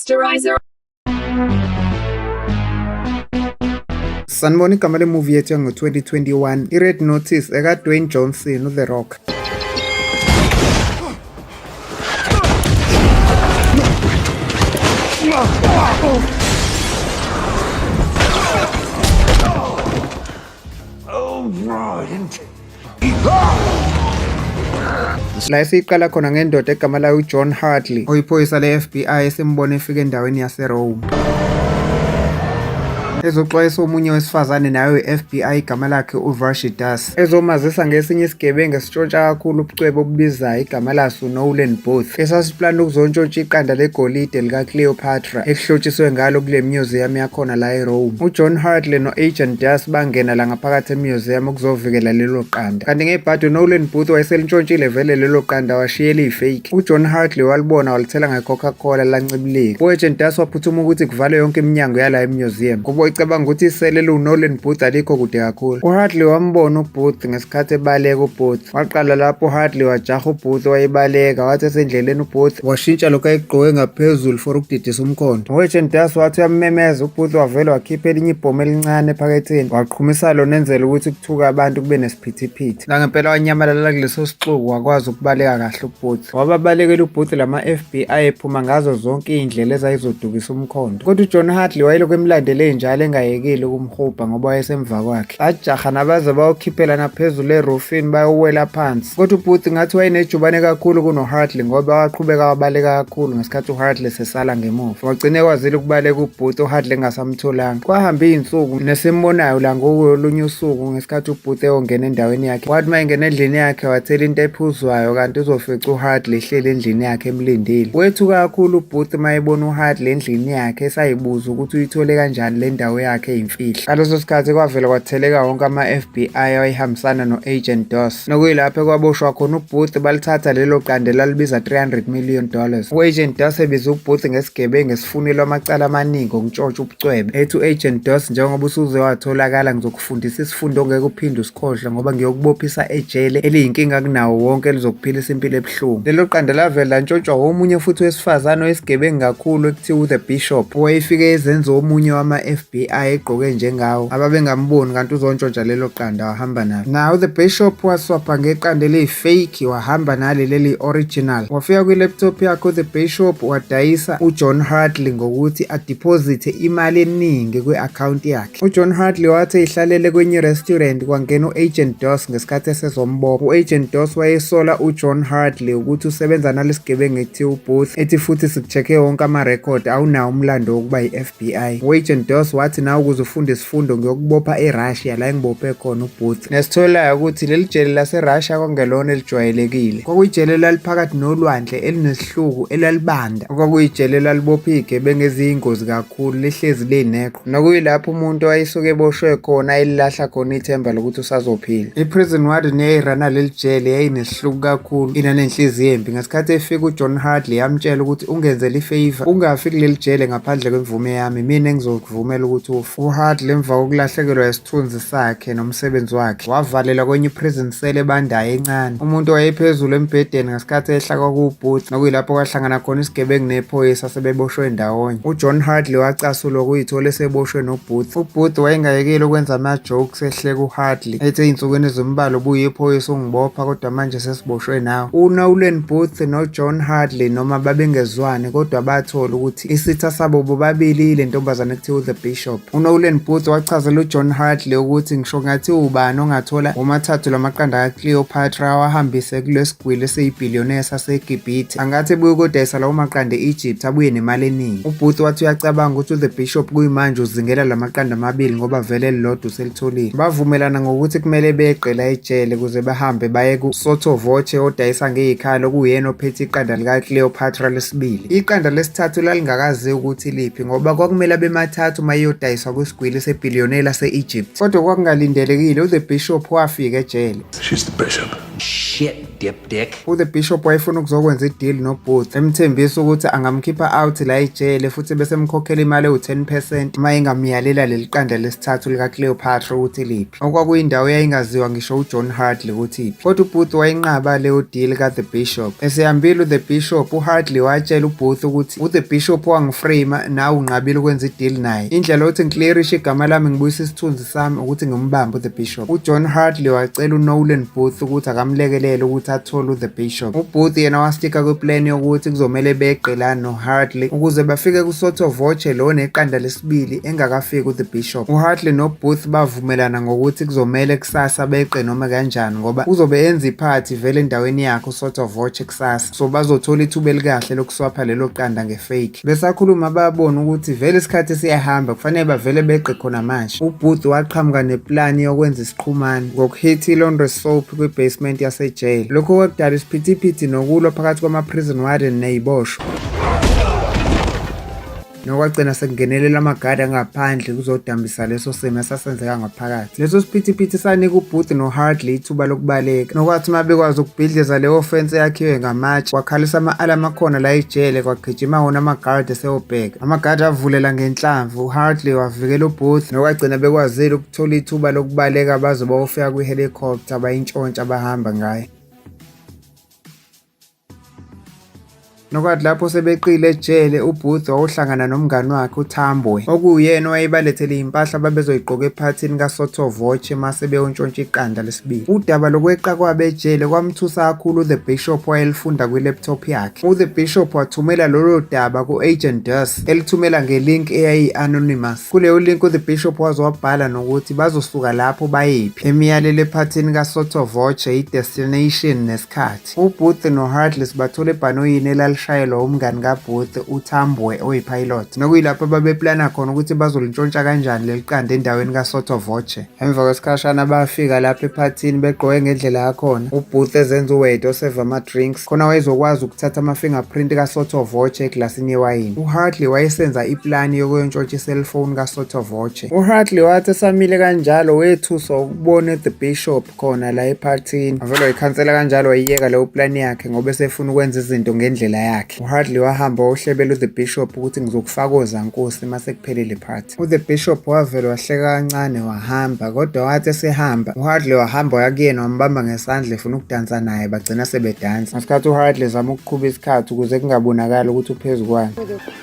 Sterilizer. sanibona igama lemuvi yethu yango-2021 i-red notice ekadwayne johnson uthe rock Oh! La esiyiqala khona ngendoda egama layo uJohn Hartley oyiphoyisa le-FBI esimbone efika endaweni yaseRome ezoxwayisa omunye wesifazane nayo we-FBI igama lakhe uVashi Das ezomazisa ngesinye isigebengu esitshontsha kakhulu ubucwebe obubizayo igama laso Nolan Booth Plan lokuzontshontsha iqanda legolide likaCleopatra elihlotshiswe ngalo kule museum yakhona la eRome. UJohn Hartley no-Agent Das bangena la ngaphakathi emuseum ukuzovikela lelo qanda. Kanti ngebhadi uNolan Booth wayeselinshontshile vele lelo qanda washiya eliyifake. UJohn Hartley walibona walithela ngeCoca-Cola lancibilika. U-Agent Das waphuthuma ukuthi kuvalwe yonke iminyango yala emuseum. Kubo icabanga ukuthi isele eliwuNolan Booth alikho kude kakhulu. UHartley wambona uBooth ngesikhathi ebaleka uBooth. Waqala lapho uHadley wajaha uBooth wayebaleka wathi esendleleni uBooth washintsha lokho ayegqoke ngaphezulu for ukudidisa umkhondo. Uwetsheni Das wathi uyammemeza uBooth wavele wakhipha elinye ibhomu elincane ephaketheni waqhumisa lona enzela ukuthi kuthuka abantu kube nesiphithiphithi. Nangempela wanyamalala kuleso sixuku wakwazi ukubaleka kahle uBooth. Wababalekela ubhuthi lama FB ayephuma ngazo zonke iy'ndlela ezayizodukisa umkhondo. Kodwa uJohn Hartley wayelokhu emlandele njalo engayekile ukumhubha ngoba wayesemva kwakhe. Bajaha nabaze bayokhiphelana phezulu erufini bayowela phansi. Kodwa ubhuthi ngathi wayenejubane kakhulu kunoHartley ngoba waqhubeka wabaleka kakhulu ngesikhathi uHartley sesala ngemuva. Wagcine kwazile ukubaleka ubhuthi uHartley engasamtholanga. Kwahamba iy'nsuku nesimbonayo la ngolunye usuku isikhathi ubhuthe ongena endaweni yakhe wathi uma engena endlini yakhe wathela into ephuzwayo kanti uzofica uhardley ehleli endlini yakhe emlindile wethu kakhulu ubhuthe uma ebona uhardley endlini yakhe esayibuza ukuthi uyithole kanjani le ndawo yakhe eyimfihlo ngaleso sikhathi kwavela kwatheleka wonke ama-f b i awayehambisana no-agent dos nokuyilapho ekwaboshwa khona ubhuthe balithatha lelo qande lalibiza 300 million dollars u-agent dos ebize ubhuthe ngesigebengu esifunelwa amacala amaningi ngokutshotsha ubucwebe ethi u-agent dos njengoba usuze watholakala ngizoku fundisa isifundo ongeke uphinde usikhohlwe ngoba ngiyokubophisa ejele eliyinkinga kunawo wonke elizokuphilisa impilo ebuhlungu lelo qanda lavele lantshontshwa womunye futhi wesifazane oyisigebengu kakhulu ekuthiwa uthe bishop owayefike ezenza omunye wama-f b i egqoke njengawo ababengamboni kanti uzontshontsha lelo qanda wahamba nalo nawo the bishop waswapha ngeqanda eliyifake wahamba nali leli original wafika kwi-laptop yakhe uthe bishop wadayisa ujohn hartley ngokuthi adiphozithe imali eningi kwi-akhawunti yakhe UJohn Hartley wathi ehlalele kwenye restaurant kwangena u-Agent Doss ngesikhathi esezombopha. U-Agent Doss wayesola uJohn Hartley ukuthi usebenza nalesigebengu ekuthiwa uBooth ethi futhi sikucheck-e wonke amarekhodi awunawo umlando wokuba yi-FBI. U-Agent Doss wathi nawe ukuze ufunde isifundo ngiyokubopha eRussia la engibophe khona uBooth. Nesitholayo ukuthi leli jele laseRussia kwangelona elijwayelekile. Kwakuyijele elaliphakathi nolwandle elinesihluku elalibanda. Okwakuyijele elalibopha izigebengu eziyingozi kakhulu lihlezi lineqo. nokuyilapho umuntu wayesuke eboshwe khona elilahla khona ithemba lokuthi usazophila i-prison warden yayirana leli jele yayinesihluku kakhulu inanenhliziyo embi ngesikhathi efika ujohn hardley yamtshela ukuthi ungenzela ifeyiva ungafi kuleli jele ngaphandle kwemvume yami mina engizokuvumela ukuthi ufe uhardley emva kokulahlekelwa isithunzi sakhe nomsebenzi wakhe wavalelwa kwenye i-prison cell ebandayo encane umuntu wayephezulu embhedeni ngesikhathi ehla kwakuwubhuti nokuyilapho kwahlangana khona isigebengu nephoyisa sebeboshwe ndawonye ujohn hardley wacasulwa ukuyithola eseboshwe nobhuti ubhuti wayengayekeli ukwenza ama-jokes ehleka uhardley ethi ey'nsukwini ezimbalwa ubuye iphoyisa ungibopha kodwa manje sesiboshwe nawe unolan booth nojohn hardley noma babengezwani kodwa bathola ukuthi Isitha sabo bobabili ile ntombazane kuthiwa u-The Bishop. UNolan Booth wachazela uJohn Hartley ukuthi ngisho ngathi ubani ongathola womathathu lamaqanda kaCleopatra awahambise kulesigwili esiyibhillionaire saseGibhithe angathi buye kodayisa lawo maqanda e-Egypt abuye nemali eningi. UBooth wathi uyacabanga ukuthi u-The Bishop kuyimanje uzingela lamaqanda amabili ngoba vele elilodwa Thulile bavumelana ngokuthi kumele beqe la ejele kuze bahambe baye ku-Sotho Voce odayisa ngeyikhalo okuyena ophethe iqanda likaCleopatra lesibili. Iqanda lesithathu lalingakaziwa ukuthi liphi ngoba kwakumele abemathathu uma iyodayiswa kwisigwili sebhiliyone lase-Egypt. Kodwa kwakungalindelekile, uThe Bishop wafika ejele. She's the bishop. Shit. dip dick. U the bishop wayefuna ukuzokwenza ideal no Booth emthembisa ukuthi angamkhipha out la ejele futhi bese mkhokhela imali ewu 10% uma engamyalela leliqanda lesithathu lika Cleopatra ukuthi liphi. Okwakuyindawo yayingaziwa ngisho u John Hartley ukuthi iphi. Kodwa u Booth wayinqaba leyo deal ka the bishop. Esehambile u the bishop u Hartley watshela u Booth ukuthi u the bishop wangiframe nawe unqabile ukwenza ideal naye. Indlela othi ngiclearishe igama lami ngibuyisa isithunzi sami ukuthi ngimbambe uThe Bishop. UJohn Hartley wacela uNolan Booth ukuthi akamlekelele ukuthi athole uThe Bishop. UBooth yena wastika kwiplan yokuthi kuzomele beqe la noHartley ukuze bafike kuSotho Voce lo neqanda lesibili engakafiki uThe Bishop. UHartley noBooth bavumelana ngokuthi kuzomele kusasa beqe noma kanjani ngoba kuzobe enza iphathi vele endaweni yakhe uSotho Voce kusasa. So bazothola ithuba elikahle lokuswapha lelo qanda ngefake. Besakhuluma babona ukuthi vele isikhathi siyahamba kufanele bavele beqe khona manje. UBooth waqhamuka neplani yokwenza isiqhumane ngokuhitha i-laundry soap kwi-basement yasejele. Lokho kwakudala isiphithiphithi nokulwa phakathi kwama-prison warden neyiboshwa nokwagcina sekungenelela amagadi angaphandle kuzodambisa leso simo esasenzeka ngaphakathi. Leso siphithiphithi sanika uBooth noHardley ithuba lokubaleka nokwathi uma bekwazi ukubhidliza leyo fensi eyakhiwe ngamatshe kwakhalisa ama-alamu akhona la ejele kwagijima wona amagadi eseyobheka amagadi avulela ngenhlamvu uHardley wavikela uBooth nokwagcina bekwazile ukuthola ithuba lokubaleka baze bayofika kwi-helicopter bayintshontsha bahamba ngayo Nokwathi lapho sebeqile ejele uBooth wawuhlangana nomngani wakhe uThambwe okuyena owayebalethele impahla ababezoyigqoka ephathini kaSotho Voce mase beyontshontsha iqanda lesibili. Udaba lokweqa kwabe ejele kwamthusa kakhulu uThe Bishop wayelifunda kwi-laptop yakhe. UThe Bishop wathumela lolo daba ku-Agent Dus elithumela ngelink eyayi-anonymous. Kuleyo link uThe Bishop waze wabhala nokuthi bazosuka lapho bayephi, emiyalelo ephathini kaSotho Voce, i-destination nesikhathi. Heartless. UBooth noHeartless bathola ebhanoyini elalishayelwa umngani kaBooth uThambwe oyipilot nokuyilapho ababeplana khona ukuthi bazolintshontsha kanjani leli qanda endaweni kaSotho Voce. Emva kwesikhashana bafika lapha ephathini begqoke ngendlela yakhona uBooth ezenza uwade oseva ama-drinks khona wayezokwazi ukuthatha ama-fingerprint kaSotho Voce eglasini yewayini. UHartley wayesenza iplani yokuyontshontsha iselfoni kaSotho Voce. UHartley wathi esamile kanjalo wethuswa ukubona uThe Bishop khona la ephathini avele wayikhansela kanjalo wayiyeka leyo plan yakhe ngoba esefuna ukwenza izinto ngendlela yakhe uhardly wahamba wayohlebela uthe bishop ukuthi ngizokufaka ozankosi uma sekuphelile party uthe bishop wavele wahleka kancane wahamba kodwa wathi esehamba uhardly wahamba waya kuyena wambamba ngesandla efuna ukudansa naye bagcina sebedansa ngesikhathi uhardly zama ukuqhuba isikhathi ukuze kungabonakali ukuthi uphezu kwani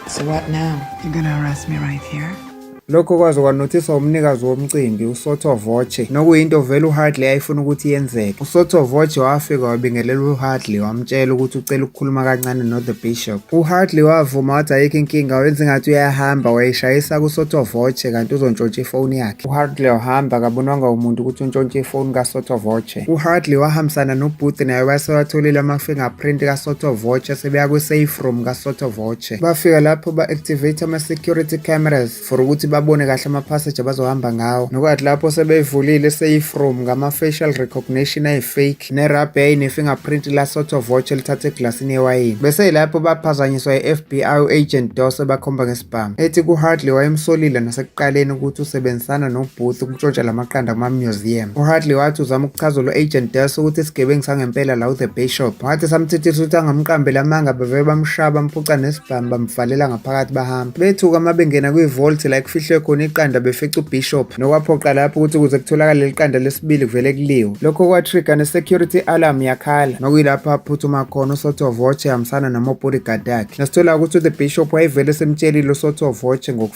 so what now you're gonna arrest me right here Lokho kwaze kwanothiswa umnikazi womcimbi uSotho Voce nokuyinto vele uHardley ayifuna ukuthi yenzeke. USotho Voce wafika wabingelela uHardley wamtshela ukuthi ucela ukukhuluma kancane noThe Bishop. UHardley wavuma wathi ayikho inkinga wenza ingathi uyahamba wayishayisa kuSotho Voce kanti uzontshontsha ifoni yakhe. UHardley wahamba akabonwanga umuntu ukuthi untshontshe ifoni kaSotho Voce. UHardley wahambisana noBooth naye base watholile ama-fingerprint kaSotho Voce sebeya kwi-safe room kaSotho Voce. bafika lapho ba-activate ama-security cameras for ukuthi babone kahle ama-passage abazohamba ngawo nokwathi lapho sebeyivulile safe room ngama-facial recognition ayi-fake nerabey ne-fingerprint lasotho voch elithatha eglasini yewayini bese yilapho baphazanyiswa i-fbi u-agent dose bakhomba ngesibhamu ethi ku-hardly wayemsolile nasekuphi ekuqaleni ukuthi usebenzisana noBooth ukutshontsha la maqanda kuma-museum. UHartley wathi uzama ukuchazela u-agent Dess ukuthi isigebengu sangempela la u-The Bay Shop. Wathi samthethisa ukuthi angamqambeli amanga bavele bamshaya bamphuca nesibhamu bamvalela ngaphakathi bahamba. Bethuka uma bengena kwi-vault la ekufihlwe khona iqanda befica uBishop nokwaphoqa lapho ukuthi ukuze kutholakale leli qanda lesibili kuvele kuliwe. Lokho kwa-trigger ne-security alarm yakhala nokuyilapho aphuthuma khona uSotho Voce ehambisana nama-bodyguard akhe. Nasithola ukuthi u-The Bishop wayevele semtshelile uSotho Voce ngoku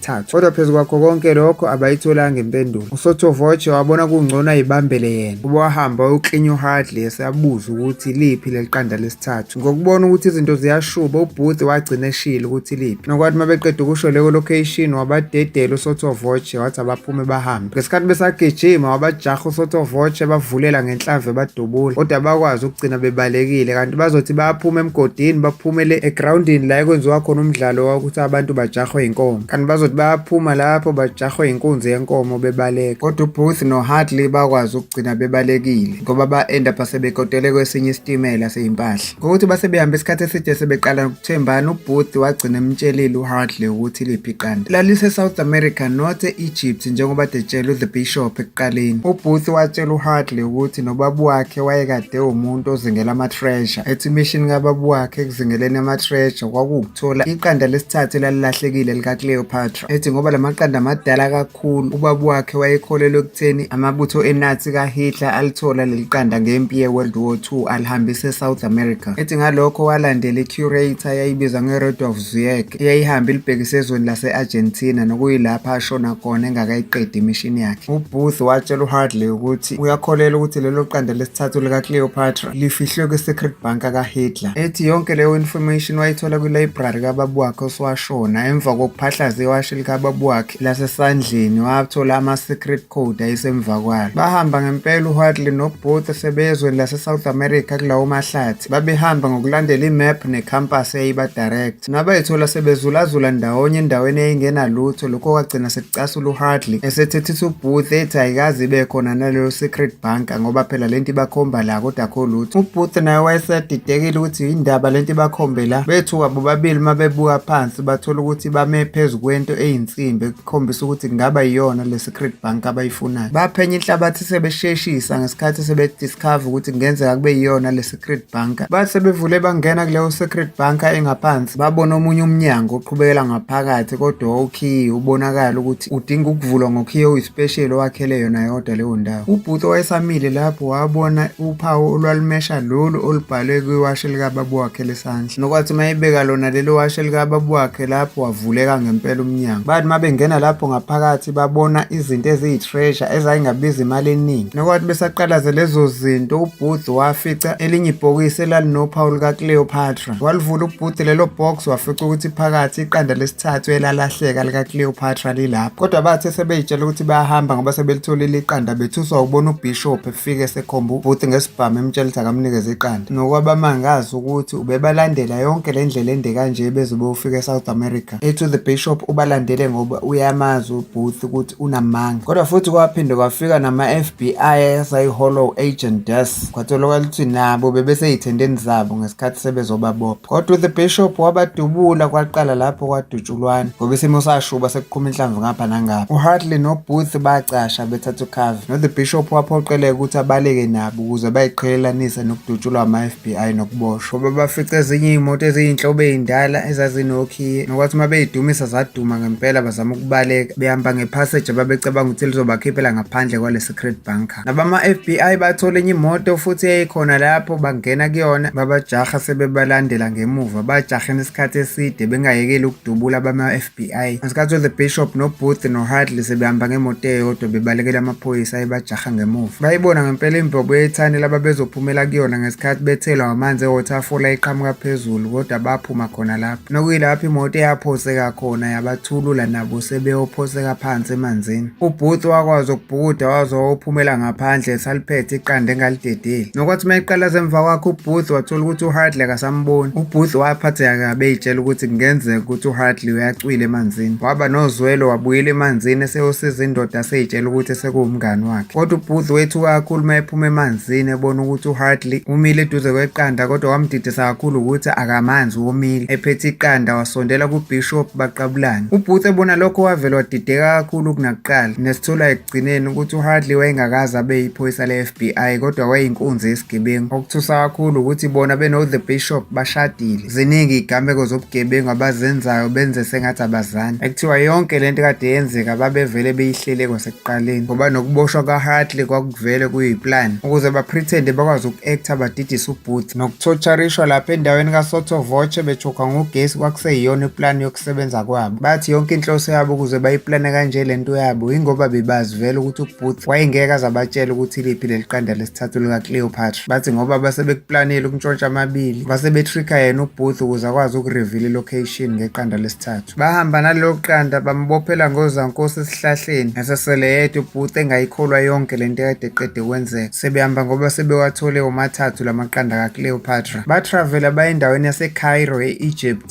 thathu. Kodwa phezu kwakho konke lokho abayitholanga impendulo. Usothovoche wabona kungcono ayibambele yena ukuba wahamba wayoklinya uHadley eseyabuza ukuthi liphi leli qanda lesithathu. Ngokubona ukuthi izinto ziyashuba uBooth wagcina eshile ukuthi liphi. Nokwathi uma beqeda ukusho leyo location wabadedela usothovoche wathi abaphume bahambe. ngesikhathi besagijima wabajaha usotovoche bavulela ngenhlamvu ebadubula kodwa bakwazi ukugcina bebalekile kanti bazothi bayaphuma emgodini baphumele egrawundini la ekwenziwa khona umdlalo wokuthi abantu bajahwe yinkomo kanti bazothi bayaphuma lapho bajahwe yinkunzi yenkomo bebaleka kodwa ubooth nohartley bakwazi ukugcina bebalekile ngoba ba-enda phasebekotele kwesinye isitimela seyimpahla ngokuthi base behamba isikhathi eside sebeqala Thembani ubhuti wagcina emtshelile uHartley ukuthi liphi iqanda laliseSouth America not e-Egypt njengoba detshelwe the bishop ekuqaleni. Ubhuti watshela uHartley ukuthi nobabu wakhe wayekade umuntu ozingela ama-treasure ethi imishini kababu wakhe ekuzingeleni ama-treasure kwakuwukuthola iqanda lesithathu elalilahlekile likaCleopatra. ethi ngoba lamaqanda amadala kakhulu ubaba wakhe wayekholelwa ekutheni amabutho eNazi kaHitler alithola leli qanda ngempi yeWorld War II alihambisa eSouth America ethi ngalokho walandela icurator yayibizwa ngeRudolf Zuyek eyayihamba ilibhekise ezweni lase-Argentina nokuyilapha ashona khona engakayiqedi imishini yakhe uBooth watshela uHardley ukuthi uyakholelwa ukuthi lelo qanda lesithathu likaCleopatra lifihlwe kwi-secret bunker kaHitler ethi yonke leyo information wayithola kwi-library kababa wakhe oswasho Shona emva kokuphahlaza iwashi likababa wakhe lasesandleni wathola ama-secret code ayisemva kwalo. Bahamba ngempela uHartley noBooth sebeye ezweni laseSouth America kulawo mahlathi. Babehamba ngokulandela imap necampus eyayibadirecta. Nabayithola sebezulazula ndawonye endaweni eyayingenalutho lokho kwagcina Casulu Hartley esethethisa uBooth ethi ayikaze ibe khona naleyo secret bank ngoba phela lento ibakhomba la kodwa akho lutho. UBooth naye wayesedidekile ukuthi yindaba lento ibakhombe la bethuka bobabili uma bebuka phansi bathola ukuthi bame phezu kwento eyinsimbi ekukhombisa ukuthi kungaba yiyona le secret bank abayifunayo. Baphenya inhlabathi sebesheshisa ngesikhathi sebediscover ukuthi kungenzeka kube yiyona le Secret Bunker. Bathe bevule bangena kuleyo Secret Bunker engaphansi babona omunye umnyango oqhubekela ngaphakathi kodwa owukhiyi ubonakala ukuthi udinga ukuvulwa ngokhiye oyispesheli owakhele yona yodwa leyo ndawo. UBhuti owayesamile lapho wabona uphawu olwalumesha lolu olubhalwe kwiwashi likababa wakhe lesandla. Nokwathi uma ebeka lona lelo washi likababa wakhe lapho wavuleka ngempela umnyango. Bathi uma bengena lapho ngaphakathi sibabona izinto eziyi-treasure ezayingabiza imali eningi nokwathi besaqalaze lezo zinto ubooth wafica elinye ibhokisi elalinophawu lukacleopatra walivula ubooth lelo box wafica ukuthi phakathi iqanda lesithathu elalahleka likacleopatra lilapho kodwa bathe sebeyitshela ukuthi bayahamba ngoba sebelitholile iqanda bethuswa ukubona ubishop efike esekhomba ubooth ngesibhamu emtshela ukuthi akamnikeze iqanda nokwabamangazi ukuthi ubebalandela yonke le ndlela ende kanje beze beyofika e-south america ethi the bishop ubalandele ngoba uyamazi ubooth ukuthi unamanga kodwa futhi kwaphinde kwafika nama-fbi asayi-hollow agent des kwatholakala ukuthi nabo bebeseyithendeni zabo ngesikhathi sebezobabopha kodwa the bishop wabadubula kwaqala lapho kwadutshulwana ngoba isimo sashuba sekuqhuma inhlamvu ngapha nangapha uhartley nobooth bacasha bethatha ukhave no-the bishop waphoqeleka ukuthi abaleke nabo ukuze bayiqhelelanise nokudutshulwa ama FBI nokuboshwa babafica ezinye iy'moto eziyinhlobo ey'ndala ezazinokhiye nokwathi uma beyidumisa zaduma ngempela bazama ukubaleka behamba ngephaseji ababecabanga ukuthi lizobakhiphela ngaphandle kwale secret bunker nabama-FBI bathole enye imoto futhi eyayikhona lapho bangena kuyona babajaha sebebalandela ngemuva bajahena isikhathi eside bengayekeli ukudubula bama-FBI FBI. Ngesikhathi uThe Bishop noBooth noHadley sebehamba ngemoto eyodwa bebalekela amaphoyisa ayebajaha ngemuva. Bayibona ngempela imbobo yethani laba bezophumela kuyona ngesikhathi bethelwa amanzi e-waterfall ayiqhamuka phezulu kodwa baphuma khona lapho. Nokuyilapho imoto eyaphoseka khona yabathulula nabo sebeyophoseka phansi emanzini. Ubhuti wakwazi ukubhukuda waze wayophumela ngaphandle esaliphethe iqanda engalidedeli. Nokwathi uma eqala zemva kwakhe ubhuti wathola ukuthi uHardley akasamboni. Ubhuti waphatheka kabi eyitshela ukuthi kungenzeka ukuthi uHardley uyacwila emanzini. Waba nozwelo wabuyela emanzini eseyosiza indoda aseyitshela ukuthi sekuwumngani wakhe. Kodwa ubhuti wethuka kakhulu uma ephuma emanzini ebona ukuthi uHardley umile eduze kweqanda kodwa wamdidisa kakhulu ukuthi akamanzi womile. Ephethe iqanda wasondela kubishop baqabulana. UBooth ebona lokho wavele wadideka kakhulu kunakuqala nesithola ekugcineni ukuthi uHardley wayengakaze abe yiphoyisa le-FBI kodwa wayeyinkunzi yesigebengu. Okuthusa kakhulu ukuthi bona beno-The Bishop bashadile. Ziningi igameko zobugebengu abazenzayo benze sengathi abazani. Ekuthiwa yonke le nto kade yenzeka babevele beyihlele kwasekuqaleni ngoba nokuboshwa kaHartley kwakuvele kuyiplan ukuze baprethende bakwazi uku-acta badidise uBooth. Nokuthotsharishwa lapha endaweni kaSotho Voce bechokha ngogesi kwakuseyiyona iplan ukusebenza kwabo bathi yonke inhloso yabo ukuze bayiplane kanje le nto yabo yingoba bebazi vele ukuthi ubooth wayengeke azabatshela ukuthi liphi leli qanda lesithathu likacleopatra bathi ngoba base bekuplanile ukuntshontsha amabili base betricka yena ubooth ukuze akwazi ukurevila ilocation ngeqanda lesithathu bahamba nalelo qanda bambophela ngozankosi esihlahleni ngasesele yedwa ubooth engayikholwa yonke le nto ekade eqede kwenzeka sebehamba ngoba sebewathole womathathu la maqanda kacleopatra batravela baye endaweni yasecairo e-egypt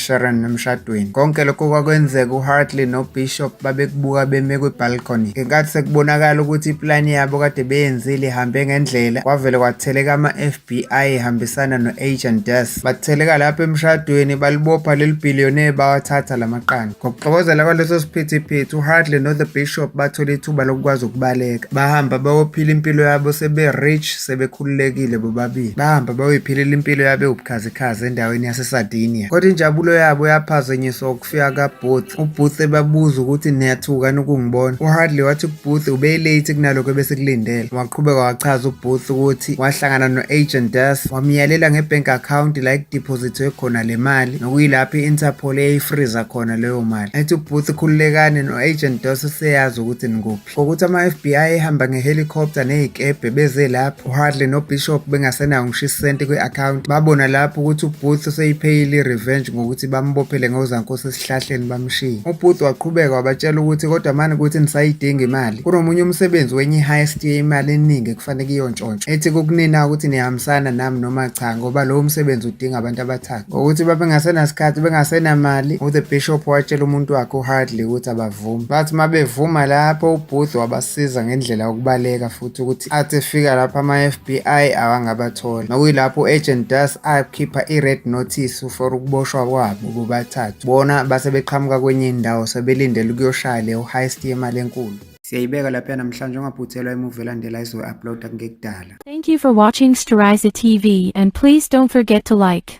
Sharon emshadweni. Konke lokho kwakwenzeka uHartley noBishop babekubuka beme kwibalcony. Ngenkathi sekubonakala ukuthi iplani yabo kade beyenzile ihambe ngendlela, kwavele kwatheleka ama-FBI ehambisana no-Agent Des. Batheleka lapho emshadweni balibopha leli billionaire bawathatha la maqanda. Ngokuxokozela kwaleso siphithiphithi uHartley no-The Bishop bathola ithuba lokukwazi ukubaleka. Bahamba bayophila impilo yabo sebe-rich sebekhululekile bobabili. Bahamba bayoyiphilela impilo yabo ewubukhazikhazi. Chaza endaweni yaseSardinia. Kodwa injabulo yabo yaphazanyiswa ukufika kaBooth. UBooth ebabuza ukuthi niyathukani ukungibona. UHardley wathi kuBooth ubeyilate kunalokho ebesikulindele. Waqhubeka wachaza uBooth ukuthi wahlangana no-agent Das wamyalela ngebank account la ekudeposithwe khona le mali nokuyilapho i-Interpol eyayifriza khona leyo mali. Ethi uBooth khululekani no-agent Das useyazi ukuthi nikuphi. For ukuthi ama-FBI ehamba ngehelicopter nezikebhe beze lapho uHardley noBishop bengasenawo ngisho isenti kwi-account babona lapho ukuthi uBooth useyipheyile i-revenge ngokuthi bambophele ngozankosi esihlahleni bamshiye. UBooth waqhubeka wabatshela ukuthi kodwa mani ukuthi nisayidinga imali kunomunye umsebenzi wenye i-highest yemali eningi ekufanele kuyontshontshwa ethi kukunina ukuthi nihambisana nami noma cha ngoba lowo msebenzi udinga abantu abathathu ngokuthi babengasenasikhathi bengasenamali u-the bishop watshela umuntu wakhe uHardley ukuthi Vuma bathi uma bevuma lapho uBooth wabasiza ngendlela yokubaleka futhi ukuthi athi efika lapho ama-FBI awangabatholi nokuyilapho u-agent Das akhipha i-red notice for ukuboshwa kwabo bobathathu bona base beqhamuka kwenye indawo sebelindele ukuyoshaya leyo heist yemali enkulu siyayibeka lapha namhlanje ungaphuthelwa imuvi elandela izoyi-uploada kungekudala Thank you for watching Steriza TV and please don't forget to like,